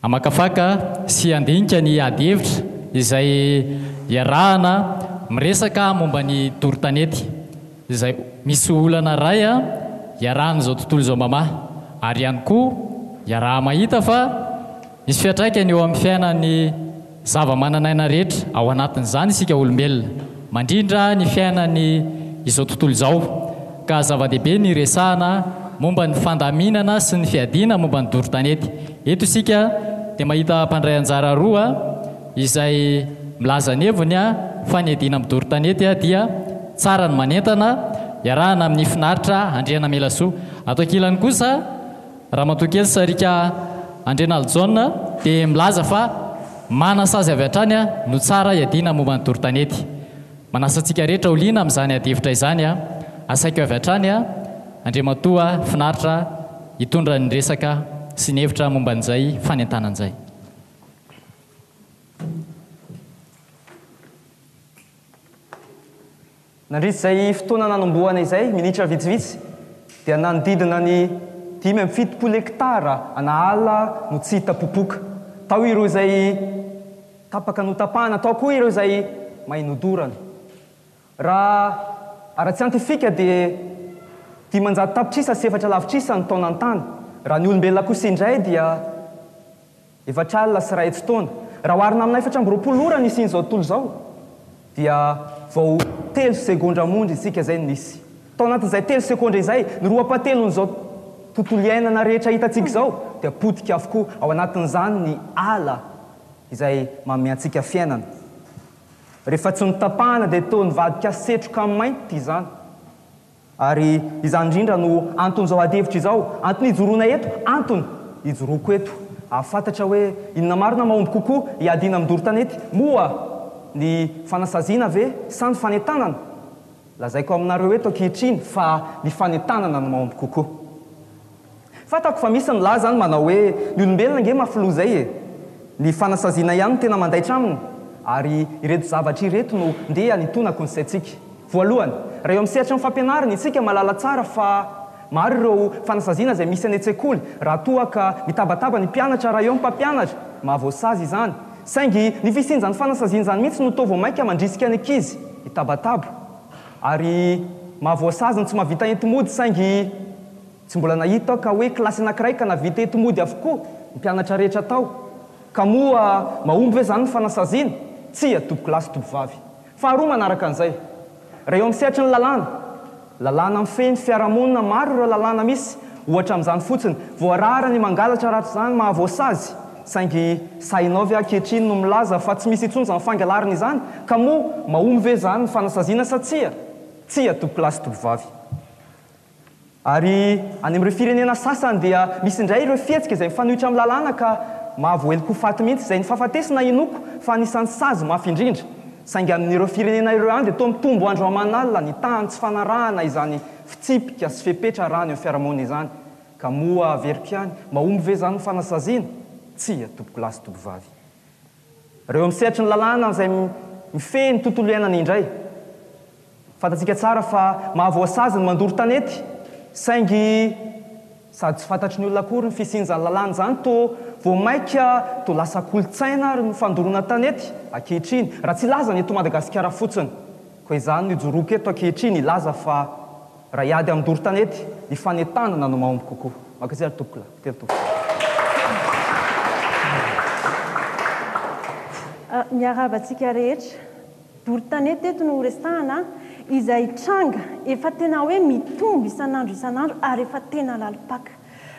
Hamakafaka sy handinika ny adihevitra izay iarahana miresaka momba ny doro-tanety izay misy olana iray iarahan'izao tontolo izao mamaha ary ihany koa iaraha-mahita fa misy fiantraikany eo amin'ny fiainan'ny zavamananaina rehetra, ao anatin'izany isika olombelona, mandrindra ny fiainany izao tontolo izao, ka zava-dehibe ny hiresahana momba ny fandaminana sy ny fiadiana momba ny doro tanety. Eto isika dia mahita mpandray anjara roa izay milaza ny heviny fa ny hiadiana amin'ny doro tanety dia tsara ny manentana, iarahana amin'ny finaritra Andrianamelasoa. Ato ankilany kosa. Ramatoakely Sarika Andrianalijaona dia milaza fa manasazy avy hatrany no tsara hiadiana momba ny doro-tanety. Manasa antsika rehetra ho liana amin'izany adihevitra izany aho. Asaiko avy hatrany Andriamatoa Finaritra hitondra ny resaka sy ny hevitra momba an'izay fanentanana izay. Nandritra izay fotoana nanombohana izay, minitra vitsivitsy, dia nanodidina ny dimy amby fitopolo hektara ana ala no tsy hita popoka. Tao ireo izay tapaka notapahana, tao koa ireo izay may nodorana. Raha ara-tsiantifika dia dimanjato tapitrisa sy efatra lavitrisa ny taonan'ny tany. Raha ny olombelona kosa indray dia. Efatra alina sy iray hetsy taona. Raha oharina amina efatra amby roapolo ora nisian'izao tontolo izao, dia vao telo segondra monja isika izay no nisy. Tao anatin'izay telo segondra izay, ny roa pahatelon'izao tontolo iainana rehetra hitantsika izao dia potika avokoa, ao anatin'izany ny ala izay manome antsika fiainana. Rehefa tsy notapahana dia toa nivadika setroka mainty izany. Ary izany indrindra no anton'izao adihevitra izao, antony ijoroana eto, antony ijoroako eto. Hahafantatra hoe inona marina mahomby kokoa hiadiana amin'ny doro tanety moa, ny fanasaziana ve sa ny fanentanana? Lazaiko aminareo eto ankehitriny fa ny fanentanana no mahomby kokoa. Fantako fa misy ny lahy zany manao hoe ny olombelona ange mafy loha zay e! Ny fanasaziana ihany no tena mandaitra aminy ary ireto zavatra ireto no ndeha hanitonako ny saintsika. Voalohany, raha eo amin'ny sehatry ny fampianarana isika mahalala tsara fa maro ireo fanasaziana izay misy any an-tsekoly raha toa ka mitabataba ny mpianatra raha eo ny mpampianatra, mahavoasazy izany. Saingy ny fisian'izany fanasaziana izany mihitsy no toa vao mainka mandrisika ny ankizy hitabataba ary mahavoasazy ny tsy mahavita enti-mody saingy. Tsy mbola nahita aho ka hoe kilasy anankiray ka navita eto mody avokoa ny mpianatra rehetra tao. Ka moa mahomby ve izany ny fanasaziana? Tsia, tompokolahy sy tompovavy. Faharoa manaraka an'izay, raha eo amin'ny sehatry ny lalàna, lalàna mifehy ny fiarahamonina, maro ireo lalàna misy, ohatra amin'izany fotsiny, voarara ny mangalatra arak'izany mahavoasazy, saingy sahinao ve ankehitriny no milaza fa tsy misy intsony izany fangalarana izany? Ka moa mahomby ve izany ny fanasaziana sa tsia? Tsia, tompokolahy sy tompovavy. Ary any amin'ireo firenena sasany dia misy indray ireo fihetsika izay mifanohitra amin'ny lalàna ka mahavoaheloka ho faty mihitsy izay ny fahafatesana hinoako fa anisan'ny sazy mafy indrindra. Saingy amin'ireo firenena ireo ihany dia toa mitombo andro aman'alina ny tahan'ny tsy fanarahana izany fitsipika sy fepetra raha ny eo amin'ny fiarahamonina izany. Ka moa averiko ihany, mahomby ve izany ny fanasaziana? Tsia, tompokolahy sy tompovavy. Ireo amin'ny sehatry ny lalàna izay mifehy ny tontolo iainana indray. Fantatsika tsara fa mahavoasazy ny mandoro tanety, saingy sady tsy fantatry ny olona akory ny fisian'izany lalàna izany, toa vao mainka toa lasa kolontsaina ary ny fandoroana tanety ankehitriny, raha tsy hilaza ny eto Madagasikara fotsiny. Koa izany no ijoroako eto ankehitriny hilaza fa. Raha hiady amin'ny doro tanety, ny fanentanana no mahomby kokoa. Mankasitraha ny tompokolahy. Mpiteny tovovavy. Miarahaba antsika rehetra. Doro tanety eto no horesahana, izay tranga efa tena hoe mitombo isan'andro isan'andro ary efa tena lalim-paka.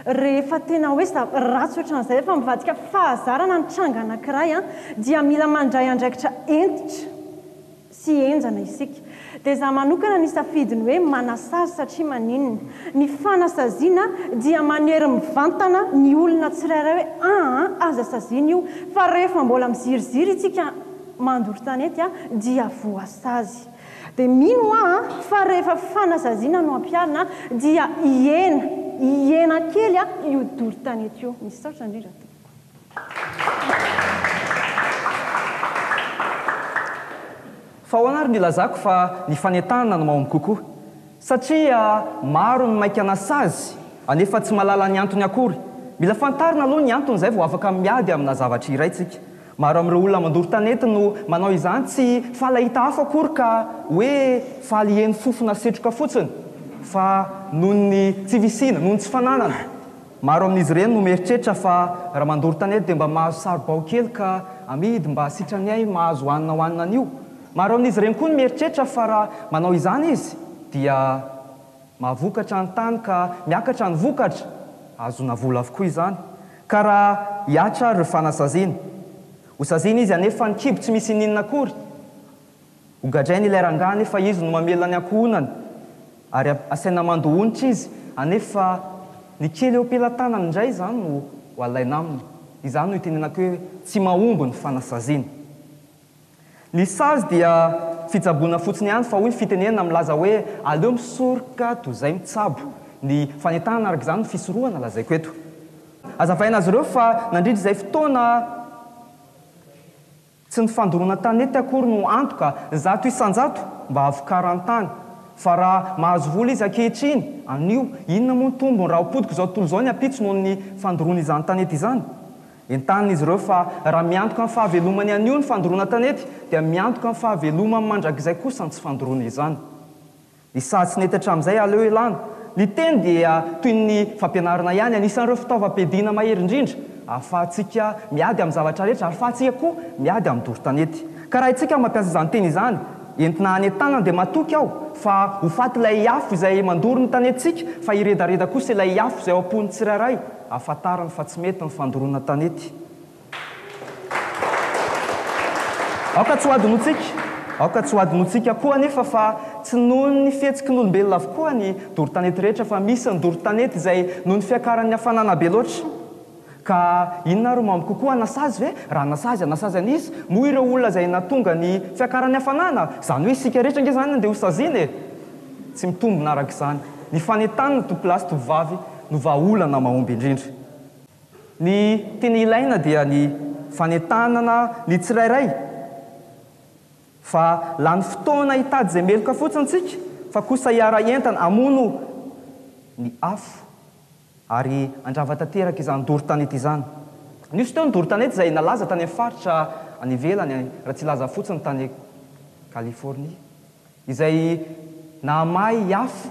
Rehefa tena hoe ratsy ohatran'izay, efa mivadika fahazarana ny tranga anankiray dia mila mandray andraikitra hentitra. sy henjana isika. Dia za manokana ny safidy ny hoe manasazy satria maninona? Ny fanasaziana dia manery mivantana ny olona tsirairay hoe aa aza saziana io fa rehefa mbola miziriziry isika mandoro tanety dia voasazy. Dia mino hoa fa rehefa fanasaziana no ampiharina dia hihena hihena kely io doro tanety io. Misaotra indrindra tompoko. Fa ahoana ary no ilazako fa ny fanentanana no mahomby kokoa? Satria maro ny maika na sazy anefa tsy mahalala ny antony akory. Mila fantarina aloha ny antony izay vao afaka miady amina zavatra iray tsika. Maro amin'ireo olona mandoro tanety no manao izany tsy falahita hafa akory ka hoe faly hieno fofona setroka fotsiny fa noho ny tsy fisiana, noho ny tsy fananana. Maro amin'izy ireny no mieritreritra fa raha mandoro tany eto dia mba mahazo saribao kely ka amidy mba sitrany hay mahazo hanina hohanina anio. Maro amin'izy ireny koa no mieritreritra fa raha manao izany izy dia mahavokatra ny tany ka miakatra ny vokatra, ahazoana vola avokoa izany. Ka raha hiatra ary ireo fanasaziana? Hosaziana izy anefa ny kibo tsy misy ininona akory. Hogadrainy ilay rangahy anefa izy no mamela ny ankohonany ary asaina mandoa onitra izy anefa ny kely eo am-pelatanany indray izany no ho alaina aminy. Izany no itenenako hoe tsy mahomby ny fanasaziana. Ny sazy dia fitsaboana fotsiny ihany fa hoy fitenenana milaza hoe aleo misoroka toy izay mitsabo. Ny fanentanana araka izany no fisorohana lazaiko eto. Hazavaina azy ireo fa nandritra izay fotoana, Tsy ny fandoroana tanety akory no antoka zato isan-jato mba havokarany tany. Fa raha mahazo vola izy ankehitriny, anio, inona moa ny tombony raha ho potika izao tontolo izao ny ampitso noho ny fandoroana izany tanety izany? Entanin'izy ireo fa raha miantoka ny fahavelomany anio ny fandoroana tanety dia miantoka ny fahavelomany mandrakizay kosa ny tsy fandoroana izany. Ny saha tsy nety hatramin'izay aleo elana. Ny teny dia toy ny fampianarana ihany, anisan'ireo fitaovam-piadiana mahery indrindra ahafahantsika miady amin'ny zavatra rehetra, ary ahafahantsika koa miady amin'ny doro tanety. Ka raha isika no mampiasa izany teny izany, entina hanentanana, dia matoky aho fa ho faty ilay afo izay mandoro ny tanentsika, fa hiredareda kosa ilay afo izay ao am-pon'ny tsirairay, ahafantarany fa tsy mety ny fandoroana tanety. Aoka tsy hohadinointsika, aoka tsy hohadinointsika koa anefa fa tsy noho ny fihetsiky ny olombelona avokoa ny doro-tanety rehetra fa misy ny doro-tanety izay noho ny fiakaran'ny hafanana be loatra. Ka inona ary mamy kokoa, nasazy ve? Raha nasazy, nasazy an'iza moa ireo olona izay nahatonga ny fiakaran'ny hafanana? Izany hoe isika rehetra ange izany andeha hosaziana e! Tsy mitombina araka izany. Ny fanentanana tovolahy sy tovovavy no vahaolana mahomby indrindra. Ny tena ilaina dia ny fanentanana ny tsirairay fa lany fotoana hitady izay meloka fotsiny tsika fa kosa hiara-hientana hamono ny afo ary handrava tanteraka izany doro tanety izany. Nisy teo ny doro tanety izay nalaza tany amin'ny faritra any ivelany raha tsy hilaza fotsiny tany Californie. izay nahamaha i Afo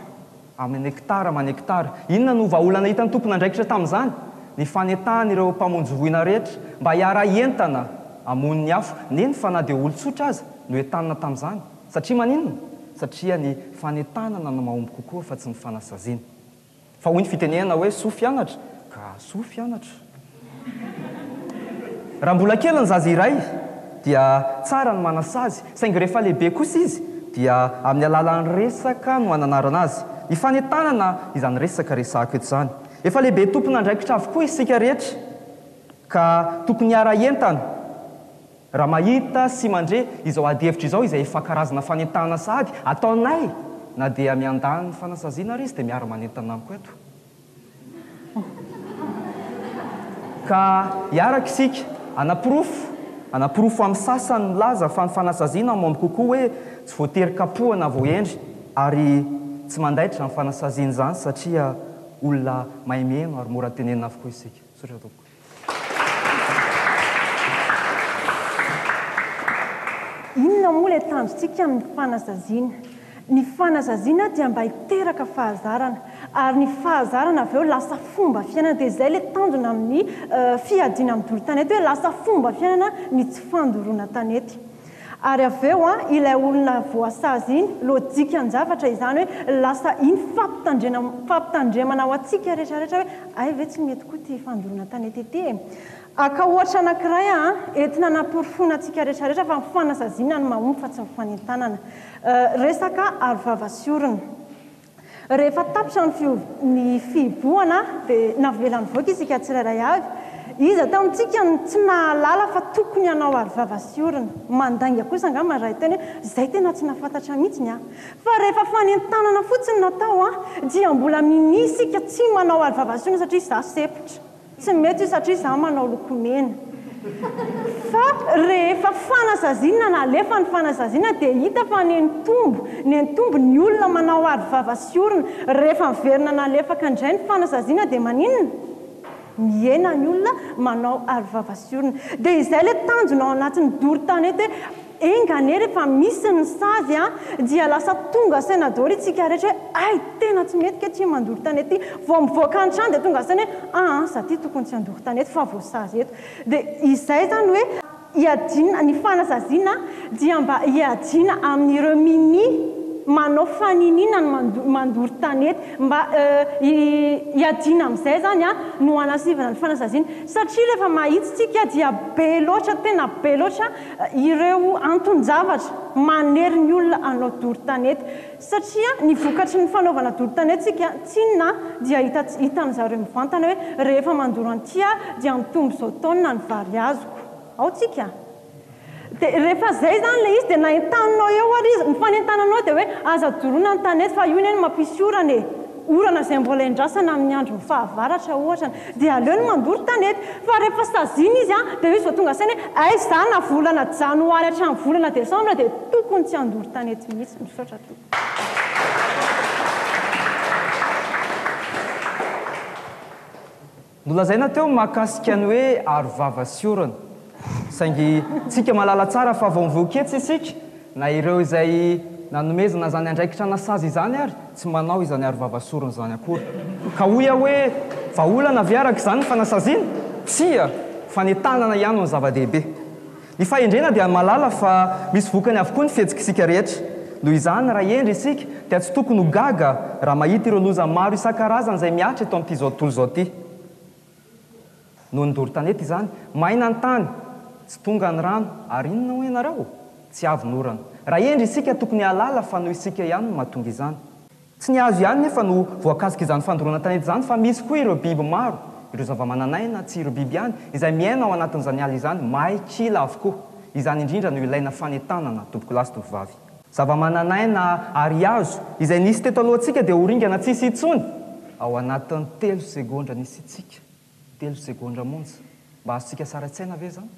amin'ny nekitara aman'ekitara. Inona no vahaolana hitan'ny tompon'andraikitra tamin'izany? Ny fanentanana ireo mpamonjy voina rehetra mba hiara-hientana hamono ny afo, neny fa na dia olon-tsotra aza no entanina tamin'izany. Satria maninona? Satria ny fanentanana no mahomby kokoa fa tsy ny fanasaziana. Fa hoy ny fitenenana hoe soa fianatra ka soa fianatra. Raha mbola kely ny zaza iray dia tsara ny manasazy saingy rehefa lehibe kosa izy dia amin'ny alalan'ny resaka no ananarana azy, ny fanentanana izany resaka resahako eto izany. Efa lehibe tompon'andraikitra avokoa isika rehetra ka tokony hiara-hientana. Raha mahita sy mandre izao adihevitra izao izay efa karazana fanentanana sahady ataonay na dia miandahan'ny fanasaziana ary izy dia miara-manentana amiko eto ka hiaraka isika hanaporofo hanaporofo amin'ny sasany milaza fa ny fanasaziana mamy kokoa hoe tsy voatery kapohana vao hendry ary tsy mandaitra ny fanasaziana izany satria olona mahay mihaino ary mora tenenina avokoa isika. Misaotra tompoko. Inona moa ilay tanjontsika amin'ny fanasaziana? Ny fanasaziana dia mba hiteraka fahazarana, ary ny fahazarana avy eo lasa fomba fiainana. Dia izay ilay tanjona amin'ny fiadiana amin'ny doro tanety hoe lasa fomba fiainana ny tsy fandoroana tanety. Ary avy eo ilay olona voasazy iny, lojikan-javatra izany hoe lasa iny fampitandrena fampitandremana ho antsika rehetra rehetra hoe hay ve tsy mety koa ity fandoroana tanetete e. Aka ohatra anankiray an, entina hanaporofoana antsika rehetra rehetra fa ny fanasaziana no mahomby fa tsy ny fanentanana. Resaka arovava sy orona. Rehefa tapitra ny fihob, ny fihibohana dia navela nivoaka isika tsirairay avy. Iza tao amintsika no tsy nahalala fa tokony hanao aro vava sy orona? Mandainga kosa angamba ny iray teny hoe, izay tena tsy nahafantatra mihitsy ny ahy. Fa rehefa fanentanana fotsiny natao dia mbola minia isika tsy manao aro vava sy orona satria izaho sempotra. Tsy mety io satria izaho manao lokomena. Fa rehefa fanasaziana nalefa ny fanasaziana dia hita fa nentombo nentombo ny olona manao aro vava sy orona. Rehefa miverina nalefaka indray ny fanasaziana dia maninona? Mihena ny olona manao aro vava sy orona. Dia izay ilay tanjona ao anatin'ny doro tanety hoe Enga anie rehefa misy ny sazy a dia lasa tonga saina daholo itsika rehetra hoe hay tena tsy mety kety mandoro tanety ty vao mivoaka ny trano dia tonga saina hoe aa za ty tokony tsy handoro tanety fa voasazy eto dia izay zany hoe iadiana ny fanasaziana dia mba iadiana amin'ireo mini manao faniniana ny mandoro tanety mba iadiana amin'izay zany a no hanasivana ny fanasaziana satria rehefa mahitsy tsika dia be loatra tena be loatra ireo anton-javatra manery ny olona hanao doro tanety satria ny vokatry ny fanaovana doro tanetintsika tsinona dia hitan'ny zareo mivantana hoe rehefa mandoro an'ity aho dia mitombo izao taonina ny vary azoko ao tsika dia rehefa izay izany ilay izy dia na entaninao eo ary izy ny fanentananao dia hoe aza doroina ny tanety fa io anie no mampisy orana e orana izay mbola endrasana amin'ny andron'ny fahavaratra ohatra dia aleo ny mandoro tanety fa rehefa saziana izy dia eo izy vao tonga saina hoe aiza za na volana janoary hatramin'ny volana desambra dia tokony tsy handoro tanety mihitsy. Misaotra tompoko. Nolazaina teo ny mahakasika ny hoe arovava sy orana. Saingy tsika mahalala tsara fa vao mivoaketsy isika, na ireo izay nanomezana izany andraikitra nasazy izany ary, tsy manao izany arovava sy orana izany akory. Ka hoy aho hoe, vahaolana ve araka izany ny fanasaziana? Tsia! Fanentanana ihany no zava-dehibe. Ny fahendrena dia mahalala fa misy vokany avokoa ny fihetsik'isika rehetra. Noho izany, raha hendry isika, dia tsy tokony ho gaga raha mahita ireo loza maro isan-karazany izay mihatra eto amin'ity izao tontolo izao ity. Noho ny doro tanety izany, maina ny tany, tsy tonga ny rano, ary inona hoy ianareo? Tsy avy ny orana. Raha hendry isika, tokony hahalala fa noho isika ihany no mahatonga izany. Tsy ny hazo ihany nefa no voakasik'izany fandoroana tanety izany fa misy koa ireo biby maro, ireo zavamananaina, tsy ireo biby ihany, izay miaina ao anatin'izany ala izany, may, kila avokoa. Izany indrindra no ilaina fanentanana, tompokolahy sy tovovavy. Zavamananaina ary hazo, izay nisy teto alohantsika dia ho ringana tsy hisy intsony, ao anatin'ny telo segondra nisiantsika, telo segondra monja. Mba azontsika sary an-tsaina ve izany?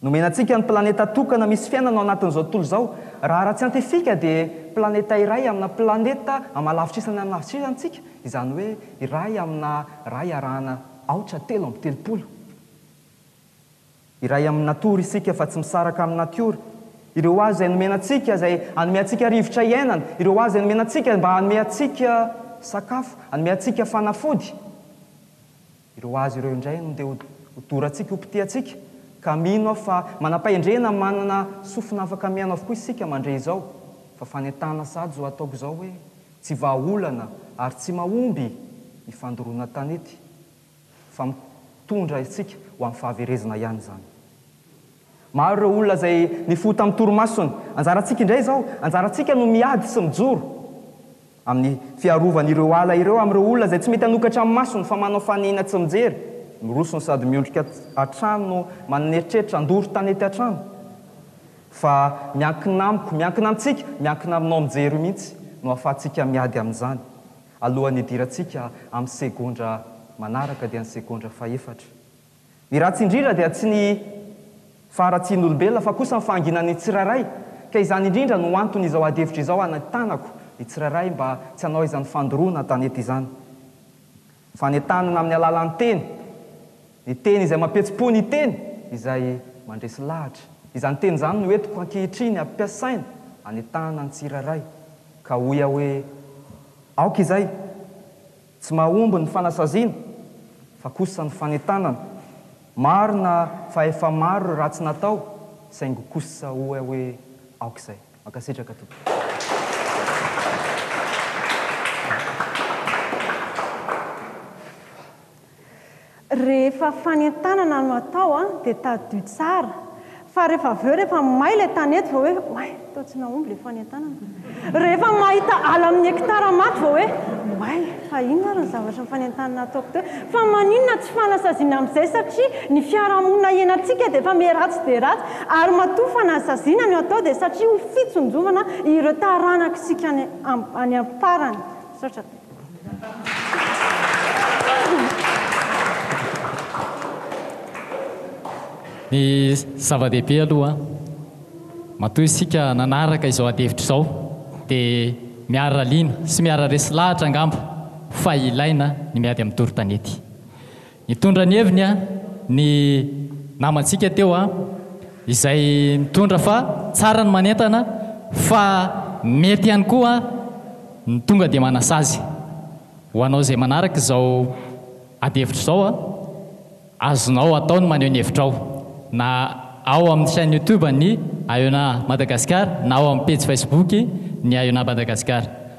Nomena antsika ny planeta tokana misy fiainana ao anatin'izao tontolo izao. Raha ara-tsiantifika dia planeta iray amina planeta amalavitrisa ny amalavitrisantsika, izany hoe iray amina iray arahana aotra telo amby telopolo. Iray amin'ny natiora isika fa tsy misaraka amin'ny natiora. Ireo hazo izay nomena antsika, izay hanome antsika rivotra iainana, ireo hazo izay nomena antsika mba hanome antsika sakafo, hanome antsika fanafody, Ireo azy ireo indray no ndeha hodorantsika, hopitihantsika, ka mino aho fa manam-pahendrena manana sofina afaka mihaino avokoa isika mandre izao, fa fanentanana sahady izao ataoko izao hoe tsy vahaolana ary tsy mahomby ny fandoroana tanety, fa mitondra antsika ho amin'ny fahaverezana ihany izany. Maro ireo olona izay nifoha tamin'ny torimasony. Anjarantsika indray izao, anjarantsika no miady sy mijoro amin'ny fiarovan'ireo ala ireo amin'ireo olona izay tsy mety hanokatra ny masony fa manao fanehina tsy mijery, miroso no sady miondrika hatrany no manana eritreritra handoro tanety hatrany. Fa miankina amiko, miankina amintsika, miankina aminao mijery io mihitsy no ahafahantsika miady amin'izany. Alohan'ny hidirantsika amin'ny segondra manaraka dia ny segondra fahefatra. Ny ratsy indrindra dia tsy ny faharatsian'olombelona fa kosa ny fahanginan'ny tsirairay, ka izany indrindra no antony izao adihevitra izao anentanako ny tsirairay mba tsy hanao izany fandoroana an-tanety izany. Fanentanana amin'ny alalan'ny teny, ny teny izay mampihetsi-po ny teny izay mandresy lahatra. Izany teny izany no entiko ankehitriny ampiasaina anentahana ny tsirairay ka hoy aho hoe aoka izay! Tsy mahomby ny fanasaziana fa kosa ny fanentanana. Marina fa efa maro ireo ratsy natao saingy kosa oa hoe aoka izay. Mankasitraka tompoko. Rehefa fanentanana no atao an, dia tadidio tsara, fa rehefa avy eo rehefa may ilay tany eto vao hoe oay, toa tsy nahomby ilay fanentanana. Rehefa mahita ala amin'ny hekitara maty vao hoe oay, fa inona ary ny zavatra nifanentanana ataoko teo. Fa maninona tsy fanasaziana amin'izay satria ny fiarahamonina hiainantsika dia efa miha ratsy dia ratsy ary matoa fanasaziana no atao dia satria ho fitsonjovana ireo taranak'isika any am-parany. Misaotra. Ny zava-dehibe aloha, matoa isika nanaraka izao adihevitra izao dia miara-liana sy miara-resy lahatra angamba fa ilaina ny miady amin'ny doro-tanety. Nitondra ny heviny ny namantsika teo izay nitondra fa tsara ny manentana fa mety ihany koa ny tonga dia manasazy ho anao izay manaraka izao adihevitra izao azonao atao ny maneho ny hevitrao na ao amin'ny chaine youtube ny Aeona Madagascar na ao amin'ny pejy facebook ny Aeona Madagascar.